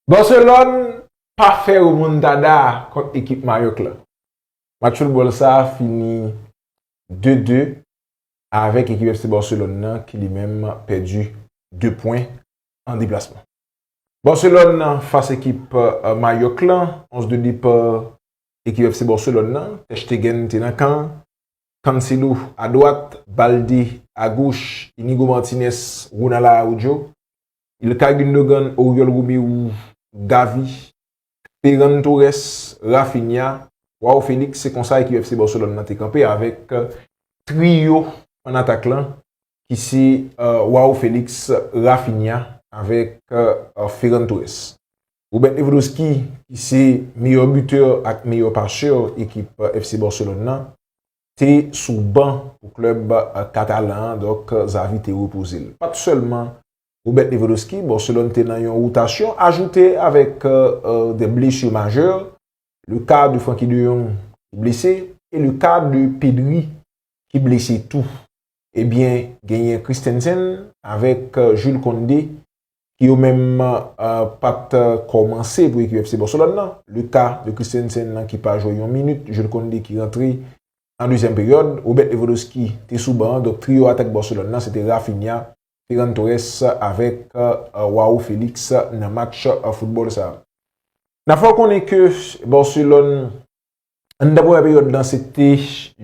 Barcelone pa fè remontada kont ekip Mayoc la. Match football sa fini 2, 2 avèk ekip FC Barcelone nan ki li menm pèdi 2 pwen an deplasman. Barcelone fas ekip Mayoc la, 11 de départ ekip FC Barcelone nan, Ter Stegen te nan kan, Cancelo a dwat, Balde a goch, Inigo Martinez, Ronald Araujo, Ilkay Gündogan, Oriol Romeu, Gavi, Ferran Torres, Raphinha, Joao Felix se konsa ekip FC Barcelone nan te kanpe avèk triyo an atak lan ki se Joao Felix, Raphinha avèk Ferran Torres. Robert Lewandowski ki se meyè butè ak meyè pasè ekip FC Barcelone nan te sou ban pou klèb katalan an, donk Xavi te repoze l. Pat sèlman Robert Lewandowski, Barcelone te nan yon wotasyon ajoute avèk des blessures majeures, le cas de Frankie de Jong ki blese e le cas de Pedri ki blese tou. Ebyen genyen Christensen avèk Jules Koundé ki yo menm pa t kòmanse pou ekip FC Barcelone nan. Luka de Christensen nan ki pa jwe yon minit, Jules Koundé ki rantre nan dezyèm peryòd, Robert Lewandowski te sou ban an, donk triyo atak Barcelone nan se te Raphinha, Ferran Torres avèk Joao Felix nan match foutbòl sa a. N ap fè w konnen ke Barcelone Anndan premyè peryòd lan se te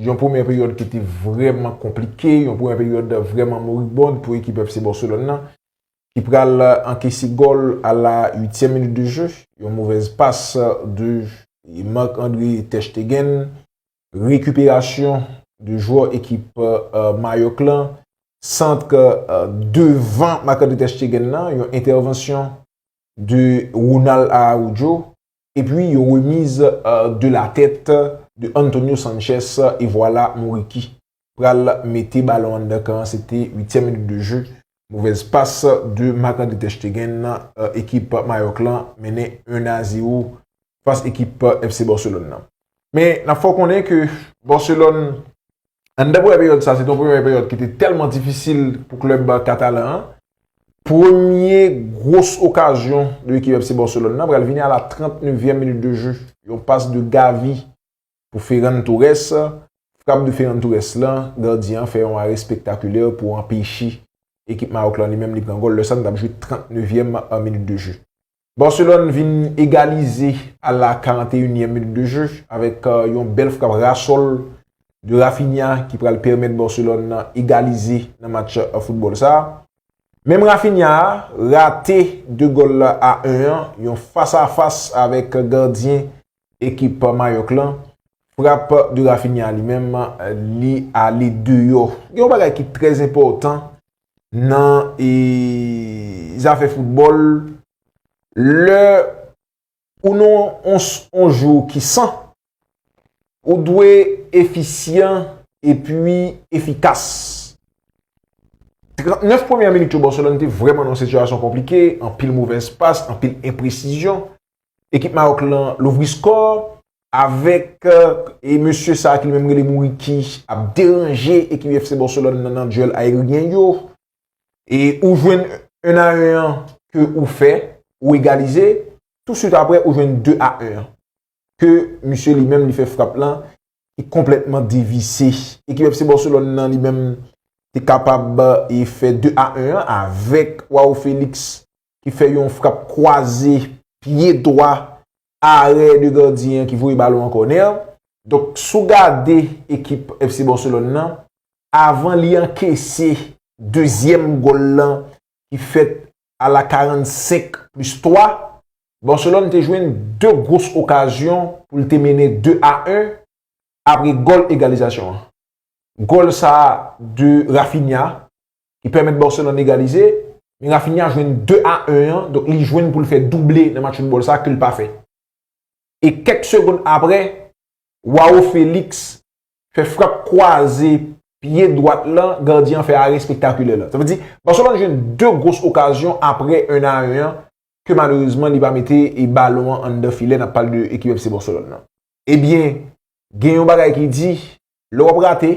yon premyè peryòd ki te vrèman konplike, yon premyè peryòd vrèman moribond pou ekip FC Barcelone lan ki pral ankese gòl a la uityèm minit de jeu, yon movèz pas de Marc-André ter Stegen, rekiperasyon de jwè ekip Mayòk lan, sant devan Marc-André ter Stegen lan, yon entèvansyon de Ronald Araujo. Epi yo remiz de la tèt de Antonio Sanchez e vwala Muriqi pral mete balon anndan kan an se te uityèm minit de je movèz pas de Marc-André ter Stegen ekip Mayòk lan mennen 1 a 0 fas ekip FC Barcelone lan men nap fè w konnen ke Barcelone Anndan premye peryòd sa, se te yon premye peryòd ki te tèlman difisil pou klèb katalan an. Premye gwos okazyon de ekip FC Barcelone nan pral vini a la 39 vyèm minit de jeu. Yon pas de Gavi pou Ferran Torres. Frap de Ferran Torres lan, gadyen an fè yon are spektakulè pou anpeche ekip Maroc lan li menm li pran gòl. Lè sa nou tap jwe 39 vyèm minit de jeu. Barcelone vin egalize a la 41 nièm minit de jeu avèk yon bèl frap ras sol de Raphinha ki pral pèmèt Barcelone nan egalize nan match football sa. Menm Raphinha a rate 2 gòl la a 1 an, yon fas a fas avèk gardyen ekip Mayoc lan. Frap de Raphinha li menm li ale deyò. Gen yon bagay ki trè enpòtan nan zafè foutbòl, lè ou nan yon jou ki san, ou dwe efisyan epi efikas. 39 premyè minit yo Barcelone te vrèman nan yon sitiyasyon konplike, anpil movèz pas, anpil enpresizyon, Ekip Maroc lan louvri score avèk e mesye sa ki li menm rele Bouriqui ap deranje ekip FC Barcelone nan nan duel aeryen yo. E ou jwenn 1 a 1 an ke ou fè, ou egalize, tou swit aprè ou jwenn 2 a 1 an. Ke mesye li menm li fè frap lan ki konplètman devise. Ekip FC Barcelone lan li menm te kapab e fè 2 a 1 an avèk Joao Felix ki fè yon frap kwaze pye dwa arè de gardyen an ki voye balon an kònè. Donk sou gade ekip FC Barcelone nan avan li ankese dezyèm gòl lan ki fèt a la 45 plis 3, Barcelone te jwenn 2 gwos okazyon pou l te mennen 2 a 1 apre gòl egalizasyon an. Gòl sa de Raphinha ki pèmèt Barcelone egalize, men Raphinha jwenn 2 a 1 an, donk li jwenn pou l fè double nan match foutbòl sa ke l pa fè. E kèk segonn aprè, Joao Felix fè frap kwaze pye dwat la, gadyen an fè arè espektakilè la. Sa vle di, Barcelone jwenn 2 gros okazyon aprè 1 a 1 an, ke malerezman li pa mete e balon an anndan filè, n ap pale de ekip FC Barcelone lan. Ebyen, gen yon bagay ki di, lè w ap rate,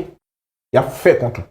y ap fè kont ou.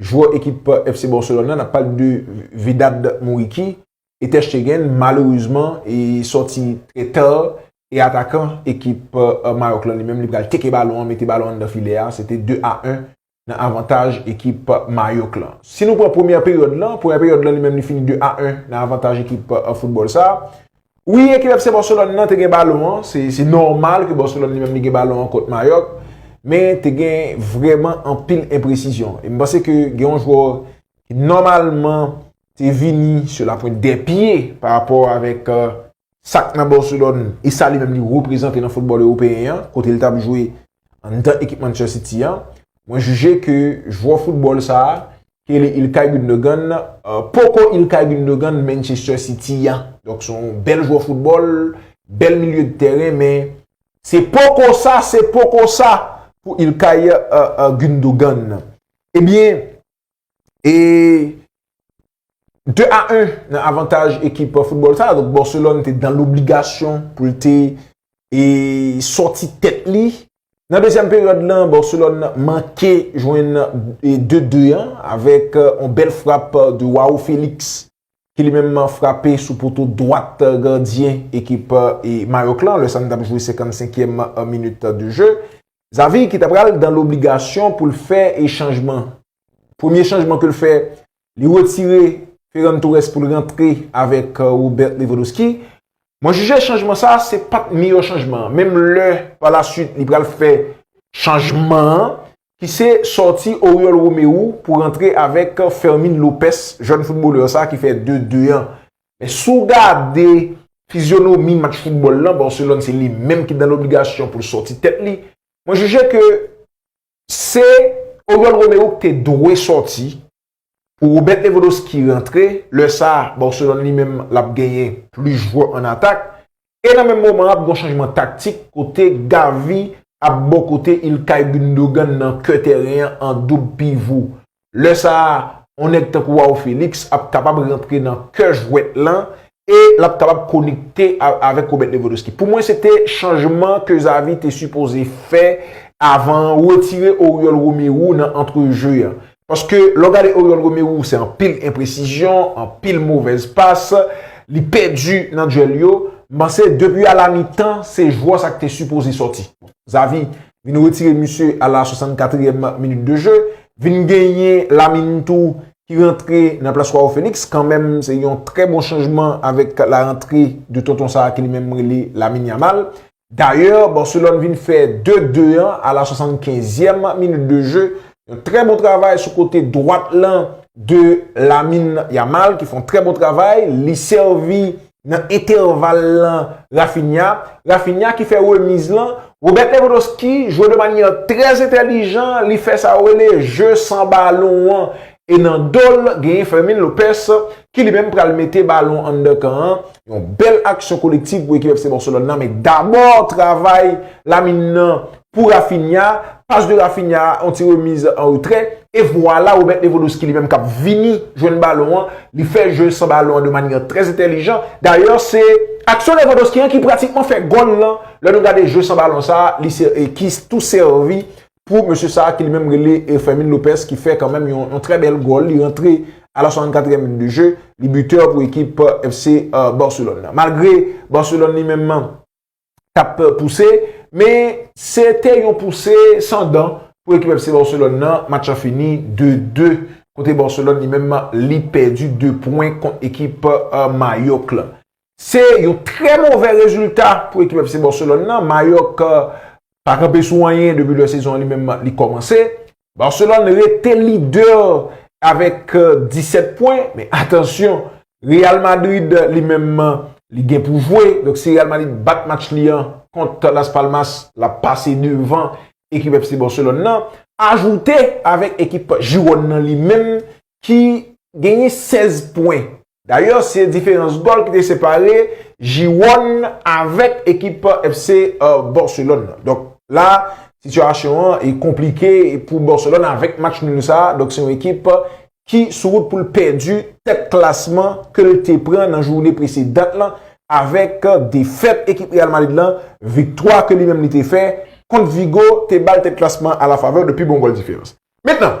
jwè ekip FC Barcelone nan, nap pale de Vedat Muriqi, e Ter Stegen malerezman e sòti trè tè, e atakan ekip Maroc lan li menm li pral teke balon an, mete balon an nan filè a, se te 2 a 1 nan avantaj ekip Mayoc lan. Si nou pran premyè peryòd lan, premyè peryòd lan li menm li fini 2 a 1 nan avantaj ekip football sa. Wi ekip FC Barcelone nan te gen balon an, se nòmal ke Barcelone li menm li gen balon an kont Mayock, men te gen vrèman anpil enpresizyon. E m panse ke gen yon jwè ki nòmalman te vini sou la pwent dè pye pa rapò avèk sa k nan Barcelone e sa li menm li reprezante nan foutbòl ewopeyen an, kote l t ap jwe anndan ekip Manchester City an. Mwen jije ke jwè foutbòl sa a ki rele Ilkay Gündogan, poko Ilkay Gündogan Manchester City a. Donk se yon bèl jwè foutbòl, bèl milye de tèren men se poko sa, se poko sa pou Ilkay Gündogan. Ebyen, e 2 a 1 nan avantaj ekip foutbòl sa a. Donk Barcelone te dan lobligasyon pou l te e sòti tèt li Nan dezyèm peryòd lan, Barcelone manke jwenn 2 de an avèk yon bèl frap de Joao Felix ki li menm frape sou poto dwat gadyen ekip Mayòk lan lè sa nou t ap jwe 55 èm minit de je. Xavi ki ta pral dan lobligasyon pou l fè chanjman. Premye chanjman ke l fè li retire Ferran Torres pou l rantre avèk Robert Lewandowski. Mwen jije chanjman sa a se pa t miyò chanjman an. Menm lè pa la swit li pral fè chanjman an ki se sòti Oriol Romeu pou rantre avèk Fermin Lopez, jèn foutbolè sa a ki fè 2, 2 an. Men si w gade fizyonomi match foutbòl lan, Barcelone se li menm ki nan lobligasyon pou l sòti tèt li. Mwen jije ke Se Oriol Roméo ki te dwe sòti pou Robert Lewandowski rantre, lè sa Barcelone li menm l ap genyen plis jwè an atak e nan menm moman an ap gen yon chanjman taktik kote Gavi ap bò kote Ilkay Gundogan nan kè tèren an an doub pivo. Lè sa a, yon nèg tankou Wao Felix ap kapab rantre nan kè jwèt lan e l ap kapab konekte avèk Robert Lewandowski. Pou mwen se te chanjman ke Xavi te sipoze fè avan an, retire Oriol Romeu nan antrejeu an. Paske lè w gade Oriol Romeu se anpil enpresizyon, anpil movèz pas, li pèdi nan duèl yo. M panse depi a la mitan se jwè sa k te sipoze sòti. Xavi vin retire misye a la 64 èm minit de jeu, vin genyen Lamine tou ki rantre nan plas Joao Felix, kanmenm se yon trè bon chanjman avèk la rantre de tonton sa ki li menm rele Lamine Yamal. Dayè, Barcelone vin fè 2, 2 an a la 75 èm minit de jeu, yon trè bon travay sou kote dwat lan de Lamine Yamal ki fon trè bon travay, li sèvi nan entèval lan Raphinha, Raphinha ki fè remiz lan, Robert Lewandowski jwe de manyè trè entèlijan, li fè sa yo rele jeu san balon an, e nan do l genyen Fermin Lopez ki li menm pral mete balon anndan kan an, yon bèl aksyon kolektiv pou ekip FC Barcelone nan, men dabò travay Lamine nan pou Raphinha, pas de Raphinha a, yon ti remiz an retrè, e vwala Robert Lewandowski li menm kap vini jwenn balon an, li fè jeu san balon an de manyè trè entèlijan, dayè se aksyon Lewandowski an ki pratikman fè gòl lan, lè nou gade jeu san balon sa, li se e ki tou sèvi pou mesye sa ki li menm rele e Fermin Lopez ki fè kanmenm yon trè bèl gòl, li rantre a la 64 èm minit de jeu, li bitè pou ekip FC Barcelone nan. Malgre Barcelone li menm. k ap pouse, men se te yon pouse san dan pou ekip FC Barcelone nan, match la fini 2, 2 kote Barcelone li menm li pèdi 2 pwen kont ekip Mayork la. Se yon trè movè rezilta pou ekip FC Barcelone nan, Mayork pa kanpe sou anyen depi lè sezon an li menm li kòmanse, Barcelone rete lidè avèk 17 pwen, men atansyon, Real Madrid li menm li gen pou jwe, donk si Real Madrid bat match li an kont Las Palmas, l ap pase devan ekip FC Barcelone nan, ajoute avèk ekip Girone nan li menm ki genyen 16 pwen Dayè se diferans gòl ki te separe Jiwòn avèk ekip FC Barcelone nan. Donk la sitiyasyon an e konplike pou Barcelone avèk match nul sa. Donk se yon ekip ki sou wout pou l pèdi tèt klasman ke l te pran nan joune presedan lan avèk defèt ekip Real Madrid lan. Viktwa ke li menm li te fè kont Vigo te ba l tèt klasman a la favè de pi bon gòl diferans. Mentnan.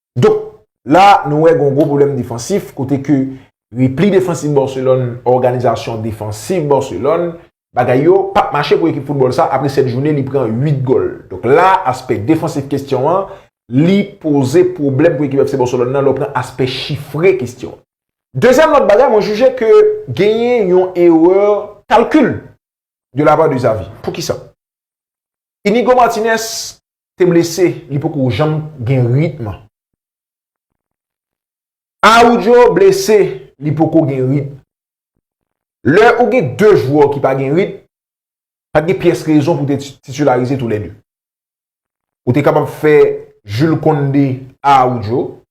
Donk, la nou wè gon gwo pwoblèm defansif kote ke repli defansif Barcelone, òganizasyon defansif Barcelone, bagay yo pap mache pou ekip foutbòl sa apre 7 jounen li pran 8 gòl. Donk la, aspè defansif kestyon an, li poze pwoblèm pou ekip FC Barcelone nan lè w pran aspè chifre kestyon an. Dezyèm lòt bagay, mwen jije ke genyen yon erè kalkil de la pa de Xavi. Poukisa? Inigo Martinez te blese li poko janm gen ritm. Aroudjo blese li poko gen ritm. Lè ou gen 2 jwè ki pa gen ritm, pa t gen pyès rezon pou w te titilarize tou lè 2. Ou te kapab fè Jules Condé, Aroudjo,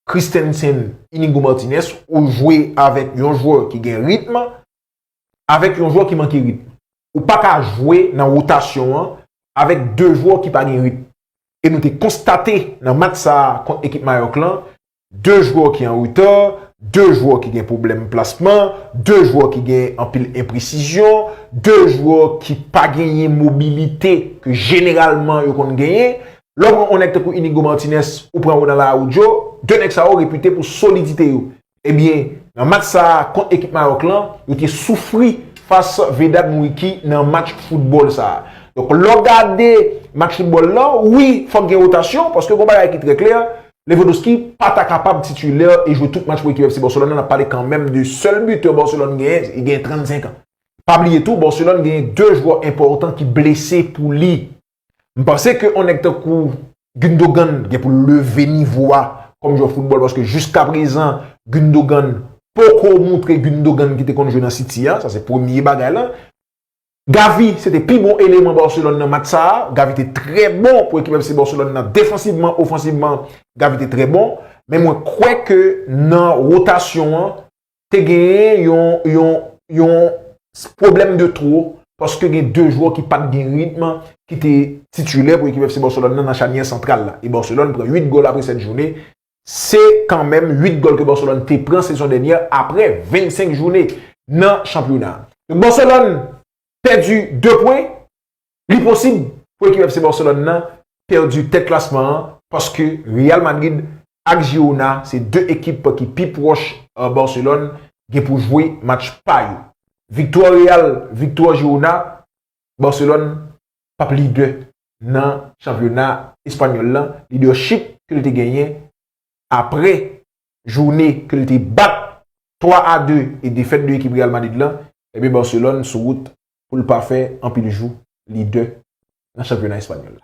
Christensen, Inigo Martinez, ou jwe avèk yon jwè ki gen ritm, avèk yon jwè ki manke ritm. Ou pa ka jwe nan wotasyon an avèk 2 jwè ki pa gen ritm. E nou te konstate nan match sa a kont ekip Mayòk lan, 2 jwè ki an retà, 2 jwè ki gen pwoblèm plasman, 2 jwè ki gen anpil enpresizyon, 2 jwè ki pa genyen mobilite ke jeneralman yo konn genyen. Lè w pran yon nèg tankou Inigo Martinez, ou pran Ronald Araujo, 2 nèg sa yo repite pou solidite yo. Ebyen, nan match sa a kont ekip Mawòk lan, yo te soufri fas Vedat Muriqi nan match foutbòl sa a. Donk, lè w gade match foutbòl lan, wi, fòk gen wotasyon, paske gon bagay ki trè klè, Lewandowski pa ta kapab titulè e jwe tout match pou ekip FC Barcelone lan, n ap pale kanmenm de sèl bitè Barcelone genyen, li genyen 35 an. Pa bliye tou, Barcelone genyen 2 jwè enpòtan ki blese pou li. M panse ke yon nèg tankou Gundogan gen pou l leve nivo a kòm jwè foutbòl paske jiska prezan Gundogan poko moutre Gundogan ki te konn jwe nan City a, sa se premye bagay la. Gavi se te pi bon eleman Barcelone nan match sa a, Gavi te trè bon pou ekip FC Barcelone nan defansivman, ofansivman Gavi te trè bon, men mwen kwè ke nan rotasyon an te genyen yon pwoblèm de twou paske gen 2 jwò ki pat gen ritm ki te titulè pou ekip FC Barcelone nan nan chanyè santral la. E Barcelone pran 8 gòl apre 7 jounè. Se kanmenm 8 gòl ke Barcelone te pran sezon dènyè apre 25 jounè nan chanpyona. Barcelone pèdi 2 pwen. Li posib pou ekip FC Barcelone nan pèdi tèt klasman an paske Real Madrid ak Girona se 2 ekip ki pi pwòch Barcelone gen pou jwe match pa yo. Viktwa Real, viktwa Girona, Barcelone p ap lidè nan chanpyona espanyòl lan, lidèchip ke l te genyen apre joune ke l te bat 3 a 2 e defèt 2 ekip Real Madrid lan, ebyen Barcelone sou wout pou l pa fè anpil jou lidè nan chanpyona espanyòl la.